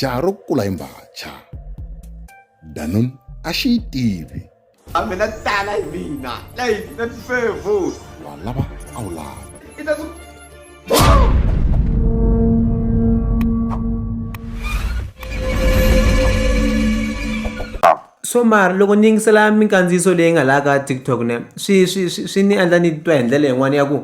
jaha ro kula hi mbhacha danun a xi yi tivi a mina tala hi mina leyi na tifevu wa lava a wu lava so mara loko ni yingisela minkandziyiso leyi nga laha ka tiktok ne swi swi swi ni endla ni twa hi ndlela yin'wana ya ku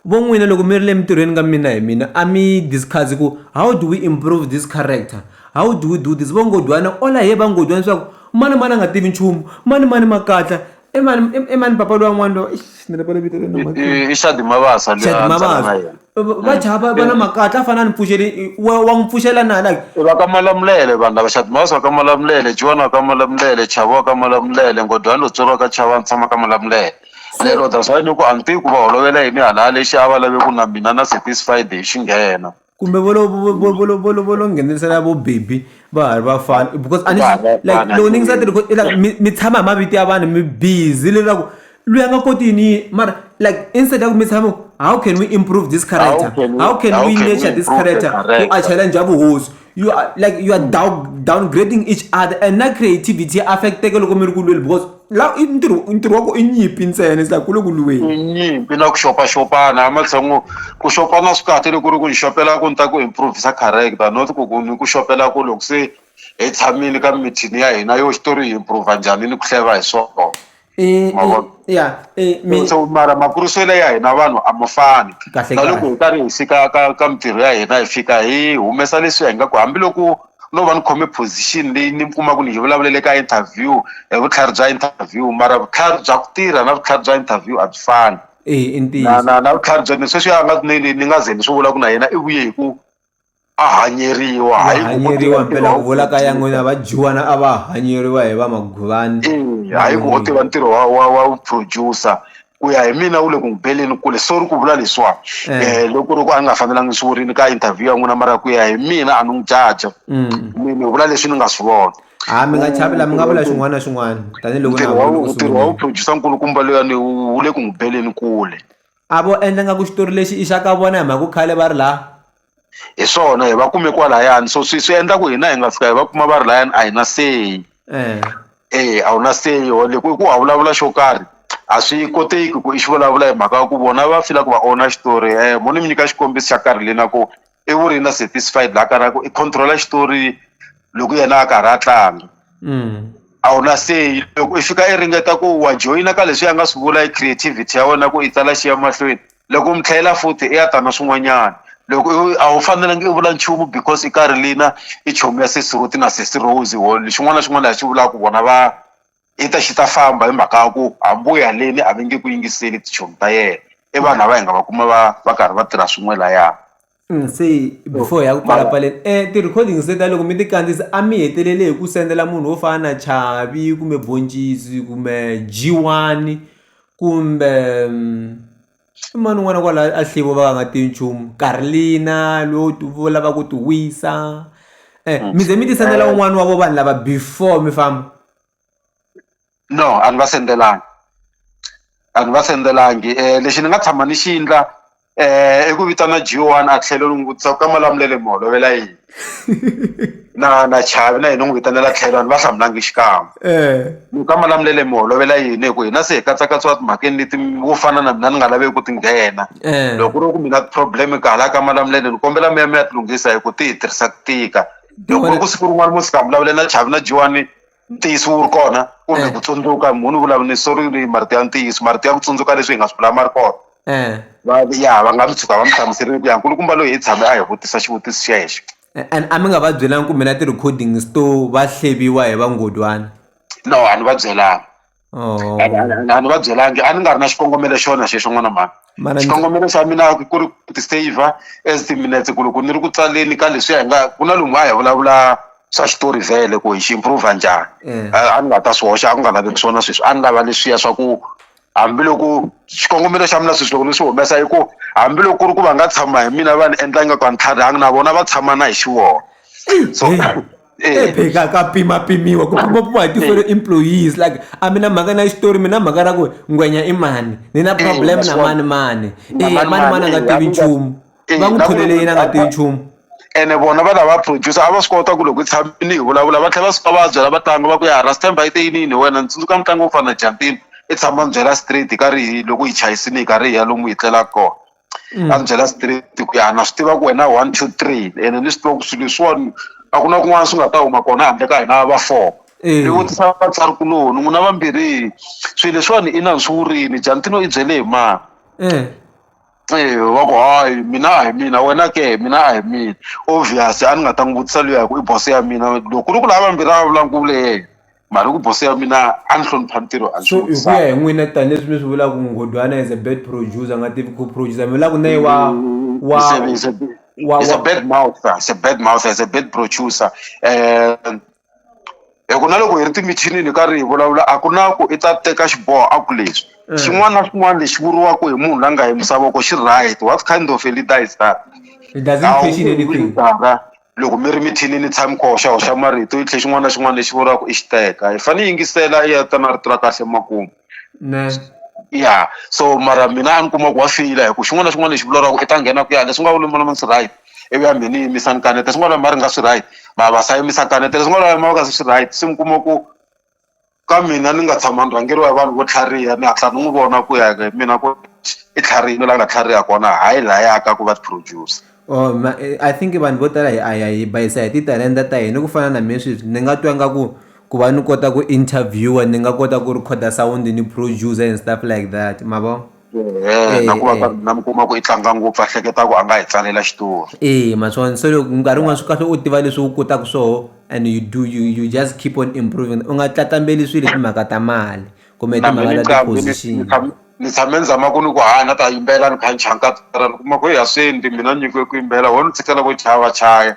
Vo n'wina loko mi ri le mintirhweni ka mina hi mina a mi yi discuss ku how do we improve this character, how do we do this? Vo Nghondwana all I hear va Nghondwana swa ku mani mani a nga tivi nchumu, mani mani makatla, i mani i mani papa luya n'wana luya eish ni rivale vito ra yena mhani. I Shadi Mabasa luya a ni tlanga na yena. Va chava va va na makatla a fanele a ni pfuxele wa wa n'wi pfuxela na like. I va ka Malamulele vanhu lava Shadi Mabasa wa ka Malamulele, Jiwani wa ka Malamulele, Chavo wa ka Malamulele, Nghondwani Lutsolo wa ka Chavo a ni tshama ka Malamulele. lero that's why ni ku a ni tivi ku va holovela yini hala a lexi a va lave ku na mina na satisfied hi xi nghena kumbe vo lo vo vo vo vo lo vo lo vo lo nghenisela vo baby va ha ri vafana because a ni Va ha ri like vafana, loko ni nge sa ti record- like, mi mi tshama hi mavito ya vanhu mi busy leswaku loyi a nga koti yini yini mara like instead ya ku mi tshama how can we improve this character can we- how can how we can we nurture this improve the character ku a character? challenge ya vuhosi you are like you are mm. down, downgrading each other and na creativity affecteke loko mi ri ku lweli because la i ntirho ntirho wa ku i nyimpi ntsena is like ku le ku lweni nyimpi na ku xopaxopana a matshango ku xopana swi kahle loko ri ku ni xopela ku ni ta ku improvisa character not ku ku ni ku xopela ku loko se hi tshamile ka mithini ya hina yo xitori hi improva njhani ni ku hleva hi swona Eh, Ma eh, vona? ya eh, mi- so mara makuriselo ya hina vanhu a ma fani Kahle, na loko kahle. hi karhi hi fika ka ka mintirho ya hina hi fika hi humesa leswi hi nga ku hambiloko no va ni khome position leyi ni kuma ku ni hi vulavulele ka interview hi vutlhari bya interview mara vutlhari bya ku tirha na vutlhari bya interview a byi fani eh, i na ntiyiso na na vutlhari bya ni sweswi a nga ni ni- ni nga ze ni swi vula ku na yena i vuye hi ku a hanyeriwa va hayi ku ko hanyeriwa tiva ntirho mpela wa ku vula ka ya n'wina va dyiwana a va hanyeriwa hi va maguvani Eya, hayi ku u tiva ntirho wa wa wa producer ku ya hi mina wu le ku n'wi beleni kule sorry ku vula leswiwa Eh. um loko ri ku a nga fanelanga swi vurini ka interview ya n'wina mara ku ya hi mina a ni n'wi jaja Mm. mi ni vula leswi ni nga swi vona ha mi nga chavi la mi nga vula xin'wana na xin'wana tanihiloko na ntirho wa vona u ntirho wa sungulile. vuproducer nkulukumba loyani wu wu le ku n'wi beleni kule a vo endla nga ku xitori lexi i xa ka vona hi mhaka ku khale va ri laha hi swona hi va kume kwalayani so swi swi endla ku hina hi nga fika hi va kuma va ri layani a hi na seyi eh. e a wu na seyi ho loko i ku a vulavula xo karhi a swi koteki ku i xi vulavula hi mhaka ya ku vona va fila ku va owner xitori um mo ni mi nyika xikombiso xa karhi lena ku i vurina satisfied laha kaya ku i control-a xitori loko yena a karhi a tlanga mm. a wu na seyi loko i fika i ringeta ku wa joyina ka leswi a nga swi vula hi creativity ya wena ku i tsala xi ya mahlweni loko u mi tlhela futhi i ya ta na swin'wanyana loko a wu fanelangi i vula nchumu because i karhi lina i chomi ya sesi roti na sesi rose wo xin'wana na xin'wana lexi vulaka vona va i ta xi ta famba hi mhaka ya ku hambi u ya le ni a va nge ku yingiseli tichomi ta yena i vanhu lava hi nga va kuma va va karhi va tirha swin'we laya. Se before hi ya ku pfalapfaleni ti-recording se ta loko mi ti kandziyisa a mi hetelele hi ku sendela munhu wo fana na Chavi kumbe Boncisi kumbe G1 kumbe. i mani un'wana kwala a hlivo va nga tivi nchumu karlina lo vo lava ku ti wisa um mi ze mi ti sendela eh. un'wana wa vo vanhu lava before mi famba no a ni va sendelangi a ni va sendelangi um lexi ni nga tshama ni xi yindla um i ku vitana g one a tlhelo ni n'wi vutisa ku ka malamulele mi holovela yini na na chavi na yena n'wi vitanela tlhelo ni va hlamulangi xikan'we eh. loko ka malamulele mi holovela yini hi ku hina se hi katsakatsiwa timhakeni leti wo fana na mina ni nga laveki ku ti nghena eh. loko ri ku mina problem ka hala ka malamulele ni kombela mi ya mi ya ti lunghisa hi ku ti hi tirhisa ku tika loko ri ku siku rin'wana mo sika mi vulavule na chavi na jiwani ntiyiso wu ri kona kumbe ku tsundzuka munhu u vulavula sorry ni marito ya ntiyiso marito ya ku tsundzuka leswi hi nga swi vula ma ri kona va ya va nga mi tshuka va mi hlamuserile ku ya nkulukumba loyi hi tshame a hi vutisa xivutiso xexo and a mi nga va byelanga kumbe na ti-recordings to va hleviwa hi vanghondyani no a ni va byelanga. Oh. a ni- a ni- a ni- a ni va byelangi a ni nga ri na xikongomelo xona xexo n'wana mhani Mana ndzi- xikongomelo xa mina ku ri ku ti-saver as timinetse ku loko ni ri ku tsaleni ka leswiya hi nga ku na lomu a hi vulavula swa xitori vhele ku hi xi improva njhani Eh. a a ni nga ta swi hoxa a ku nga laveki swona sweswi a ni lava leswiya swa ku hambiloko xikongomelo xa mina sweswi loko ni swi humesa i ku hambiloko ku ri ku va nga tshama hi mina va ni endla ingaku a ni tlharihanga na vona va tshama na hi xivona so Hey. Eh. epheka ka pimapimiwa ku pimapimiwa hi tifere eh. employees like a mi na mhaka na xitori mi na mhaka ra ku ngwenya i mani ni na eh, problem na mani mani e mani mani a nga tivi nchumu va n'wi tholele yini a nga tivi nchumu ene vona va lava producer a va swi kota ku loko hi tshamile hi vulavula va tlhela va suka va byela vatlangi va ku ya rastemba yi te yinini wena ni tsundzuka mutlangi wo fana na jantini i tshama mi byela street hi karhi hi loko hi chayisile hi karhi hi ya lomu hi tlelaka kona a ni byela straight ku ya na swi tiva ku wena one two three ene ni swi tiva ku swilo leswiwani a ku na kun'wana swi nga ta huma kona handle ka hina va four ni vutisa vatswari kuloni n'wina vambirhi swilo leswiwani i na ni swi vurini Jantino i byele hi mani va ku hayi mina a hi mina wena ke mina a hi mina obvious a ni nga ta n'wi vutisa luya hi ku i boso ya mina loko ku ri ku lava vambirhi a va vulavula ni ku vule yena mari ku bosi ya mina a ni hlonipha ntirho a so hi ku ya hi n'wina tanihileswi mi swi vulaka nghodwana is a bad producer a nga tivi ku producer mi vulaka na ye wa wa is a bad mouther is a bad mouther is a bad producer um hi ku na loko hi ri timichinini ka ri hi vulavula a ku na ku i ta teka xiboho a ku leswi eh. xin'wana na xin'wana lexi vuriwaka hi munhu la nga hi misavoko xi right what kind of a leader is that it doesn't question anything loko mi ri mithinini ni tshami koho xa hoxa marito yi tlhe xin'wana na xin'wana lexi vuriwaka i xiteka hi fanele hi yingisela i ya ta na rito ra kahle emakumu ya so mara mina a ni kuma ku wa feyila hi ku xin'wana na xin'wana lexi vulavuriwaka i ta nghena ku ya leswi nga vulomolomo swi right ivi ya mhe ni yimisa ni kaneta swin'wana ma ri nga swi right ma va se a yimisa kaneta leswi nga vulama ka swi right se mi kuma ku Ka mina ni nga tshama ni rhangeriwa hi vanhu vo tlhariha ni hatla ni n'wi vona ku ya hi mina ku i tlharihile la nga tlhariha kona hayi laya ka ku va ti-producer. Or I think vanhu vo tala hi a ya hi bayisa hi titalenta ta hina ku fana na me sweswi ni nga twa nga ku ku va ni kota ku interviewer ni nga kota ku recorder sound ni producer and stuff like that ma vo. Eya na ku va karhi na mi kuma ku i tlanga ngopfu a hleketa ku a nga hi tsalela xitori eya ma swona se loko nkarhi wun'wana swi kahle u tiva leswi u kotaka swoho and you do you you just keep on improving u nga tlatlambaleli swilo hi timhaka ta mali kumbe hi timhaka ta ti-position ni tshame ni zama ku ni ku hayi na ta yimbelela ni kha ni chaya ni kuma ku heyi a swi endli mina ni nyikiwe ku yimbelela ho ni tshikela ku chaya va chaya.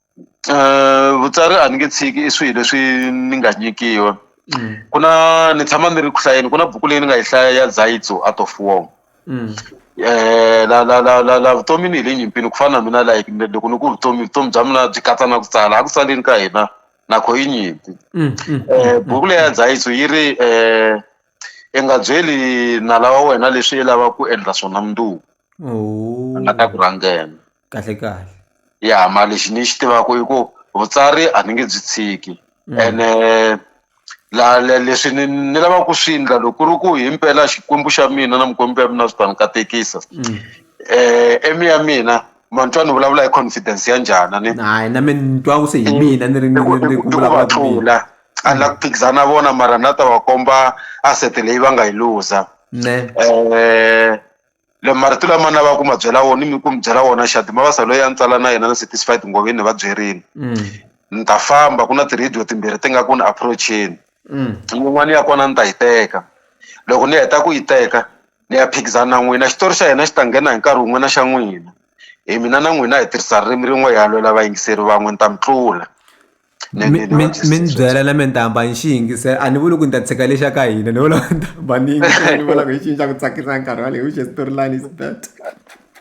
vutsari a ni nge tshiki i swilo leswi ni nga nyikiwa ku na ni tshama ni ri ku hlayeni ku na buku leyi ni nga yi hlaya ya Zaitsu Art of War la la la la la vutomi ni hi le nyimpini ku fana na mina like loko ni ku vutomi vutomi bya mina byi katsa na ku tsala a ku tsaleni ka hina na kho yi nyimpi buku leyi ya Zaitsu yi ri i nga byeli nala wa wena leswi i lavaka ku endla swona mundzuku a nga ta ku rhangela kahle kahle ya mara lexi ni xi tivaka i ku vutsari a ni nge byi tshiki ene la le leswi ni ni lavaka ku swi endla loko ku ri ku himpela Xikwembu xa mina na Mukwembu ya mina swi ta ni katekisa eme ya mina ma ni twa ni vulavula hi confidence ya njhani a ni hayi na mina ni twa ku se hi mina ni ri ni ri ni ku vulavula ku mina a ni la ku phikizana na vona mara na ta va komba asset leyi va nga yi luza ne le marito lama ni lavaka ku ma byela wona ni ku mi byela wona xana mavasa loyi a ni tsala na yena na satisfied ngoveni ni va byerile ni ta famba ku na ti-radio timbirhi ti nga ku ni approach-eni yin'wana ya kona ni ta yi teka loko ni heta ku yi teka ni ya phikizana na n'wina xitori xa hina xi ta nghena hi nkarhi wun'we na xa n'wina hi mina na n'wina hi tirhisa ririmi rin'we hi ya lwela vayingiseri van'we ni ta mi tlula. mi mi- mi ni ni ni byela na mentamba ni xi yingisela a ni vuli ku ni ta tshika lexa ka hina ni vula ntamba ni yingisela ni vula ku hi xini xa ku tsakisa nkarhi waleyi which storyline is that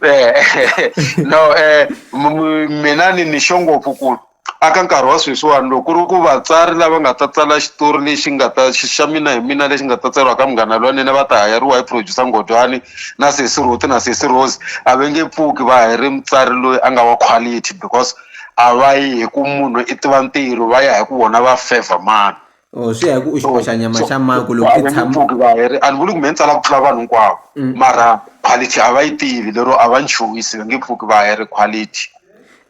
Eh, no eh m- m- mina ni ni xo ngopfu ku aka nkarhi wa sweswiwani loko ku ri ku vatsari lava nga ta tsala xitori lexi nga ta xi- xa mina hi mina lexi nga ta tsariwa ka munghana lwanene va ta hayariwa hi producer ngodwani na sesi roti na sesi rose a va nge pfuki va hayire mutsari loyi a nga wa quality because a va yi hi ku munhu i tiva ntirho va ya hi ku vona va favor mani or oh, swi ya hi ku u xiboxa nyama xa mani ku loko i tshama va heri a ni vuli ku me ni tsala ku tlula vanhu hinkwavo mm. mara quality a va yi tivi lero a va ni chuhisi va nge pfuki va heri quality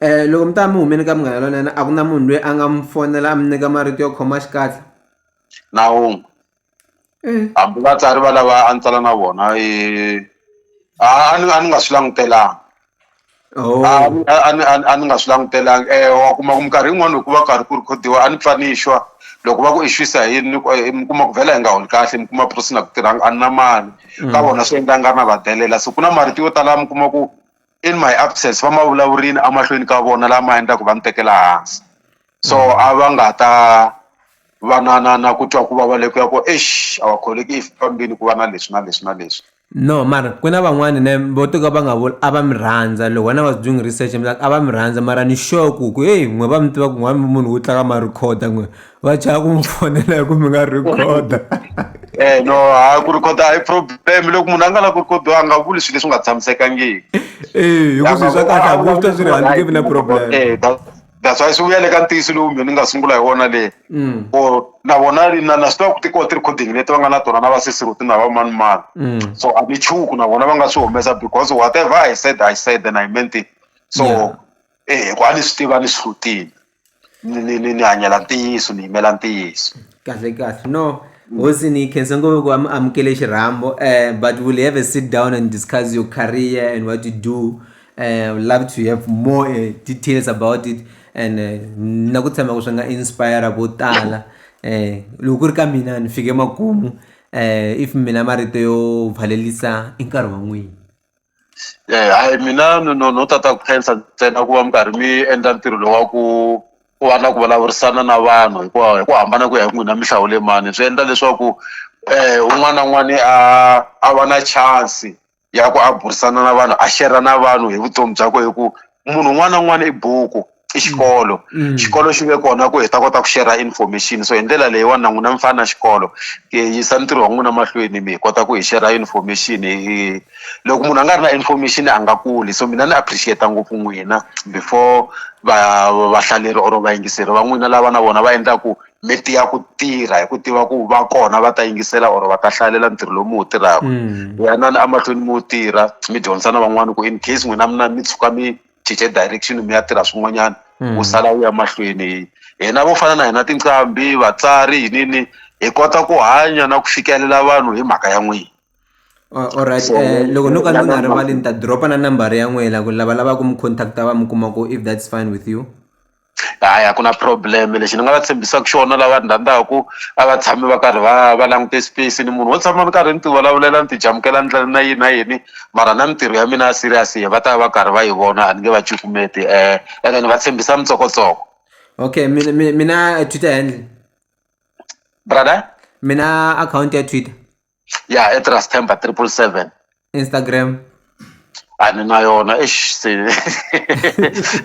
eh loko mi ta mi humeni ka munghana lonene a ku na munhu loyi a nga mi fonela a mi nyika marito yo khoma xikatla na wun'we Mm. hambi vatsari va lava a ni tsala na vona eh, a a ni a ni nga swi langutelanga Oh. a ni- a ni- a ni- a ni nga swi langutelanga eh wa kuma ku minkarhi yin'wana hikuva karhi ku rhikhodiwa a ni pfa ni xwa loko va ku i xwisa hi yini ni ku- eh, mi kuma ku vhela hi nga holi kahle mi kuma prison a ku tirhanga a ni na mali ka vona swi endla nga ri na va delela so ku na marito yo tala mi kuma ku in my absence va ma vulavurini emahlweni ka vona lama endlaku va ni tekela hansi so a va nga ta va na na na ku twa ku vava le ku ya ku eish a wa kholeki if fambini ku va na leswi na leswi na leswi no mara ku na van'wani ne vo to ka va nga vuli a va mi rhandza loko wena was doing research mi a va mi rhandza mara ni sure ku ku heyi n'we va mi tiva ku n'wani munhu wu tlaka ma recorder n'we va chava ku mi fonela hi ku mi nga recorder eh no a ku recorder a hi problem loko munhu a nga la ku recorder a nga vuli swilo leswi nga tshamisekangiki eh hi ku swi swa kahle a ku swi ta swi ri handle na problem eh, that's why swi vuya le ka ntiyiso lowu mina ni nga sungula hi wona le mm. or na vona na na swi tiva ku ti kona ti-recording leti va nga na tona na vasesiruti na vamanimani mm. so a ni chuku na vona va nga swi humesa because whatever i said i said and i meant it so yeah. eh ku a ni swi tiva ni swi hlutile ni ni ni ni hanyela ntiyiso ni yimela ntiyiso kahle kahle no hosi ni khensa ngopfu ku amukele xirhambo um but we'll have a sit down and discuss your career and what you do I would love to have more uh, details about it and eh, na ku tshemba ku swi nga inspire vo tala um loko ku ri ka mina ni fike makumu um if mina marito yo valelisa i nkarhi wa n'wini um hayi mina no no tata ku khensa ntsena ku va mi karhi mi endla ntirho lowu wa ku ku va na ku vulavurisana na vanhu hi ku hi ku hambana ku ya hi n'wina mi hlawule mani swi endla leswaku um un'wana na un'wana a a va na chance ya ku a burisana na vanhu a shera na vanhu hi vutomi byakwe hi ku munhu un'wana na un'wana i buku i xikolo mm. xikolo xi ve kona ku hi ta kota ku shera information so hi ndlela leyiwani na n'wina mi fana na xikolo ku yisa ntirho wa n'wina mahlweni mi hi kota ku hi shera information hi loko munhu a nga ri na information a nga kuli so mina ni appreciate ngopfu n'wina before va vahlaleri or vayingiseri va n'wina lava na vona va endlaku mi tiya ku tirha hi ku tiva ku va kona va ta yingisela or va ta hlalela ntirho lowu mi wu tirhaka mm. yanani emahlweni mi wu tirha mi dyondzisa na van'wana ku in case n'wina mina mi tshuka mi cince direction mi ya tirha swin'wanyana mm. u sala u ya mahlweni hina vo fana na hina tinqambi vatsari yinini hi kota ku hanya na ku fikelela vanhu hi mhaka ya n'wina alright eh, loko no ka ni nga rivali ni ta dropa na nambara ya n'wina ku lava lavaka mi contacta va mi kuma ku if that's fine with you a ya ku na problem lexi ni nga va tshembisaka xona lava ni rhandzaka a va tshami va karhi va va langute space ni munhu wo tshama ni karhi ni ti vulavulela ni ti jamukela ni na yini na yini mara na mintirho ya mina ya serious yena va ta va va karhi va yi vona a ni nge va cukumeti um ene ni va tshembisa mintsokotsoko okay mina mina twitter handle brother mina akhawunti ya twitter ya etrastember triple seven Instagram a ni na yona exi se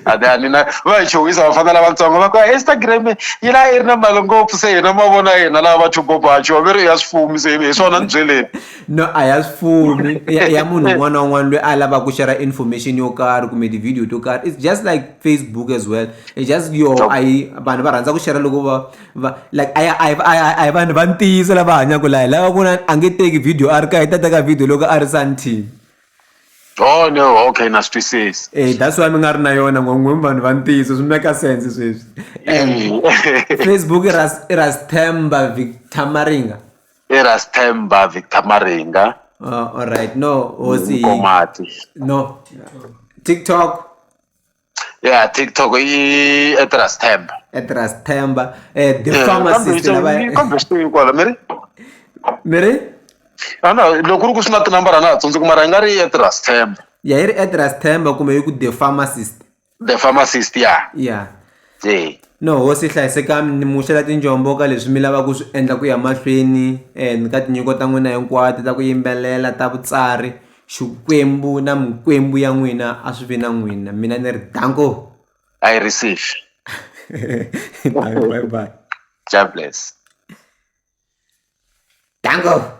a ni a ni na va hi chuhisa vafana lavatsongo va ku Instagram yi la yi ri na mali ngopfu se hina mavona hina lava va chubobachu va ve ri ya swifumi se hi swona ni byeleni no a ya swifumi ya munhu un'wana na un'wana loyi a lavaka ku share information yo karhi kumbe ti-video to karhi it's just like facebook as well it's just yo a yi vanhu va rhandza ku share loko va va like a a a a hi vanhu va ntiyiso lava hanyaka laha lava ku na a nge teki video a ri ka hi ta teka video loko a ri santin oh no okay na swi twisisa eh that's why mi nga ri na yona ngongwe vanhu va ntiyiso swi make sense sweswi facebook i ra i ra stemba victor maringa i ra stemba victor maringa oh all right no hosi no tiktok ya tiktok i etras temba etras temba eh, the Eh, pharmacist kambe lava- yi- kambe swi teyi kwala mi ri mi ri a na loko ku ri ku swi na tinambara na ha tsundzuki mara yi nga ri etras temba ya yi ri etras temba kumbe yi ku the pharmacist the pharmacist ya ya e no hosi hlayisekani ni muxela tinjombo ka leswi mi lavaka ku swi endla ku ya mahlweni um ka tinyiko ta n'wina hinkwato ta ku yimbelela ta vutsari Xikwembu na mikwembu ya n'wina a swi vi na n'wina mina ni ri danko I receive bye bye God bless danko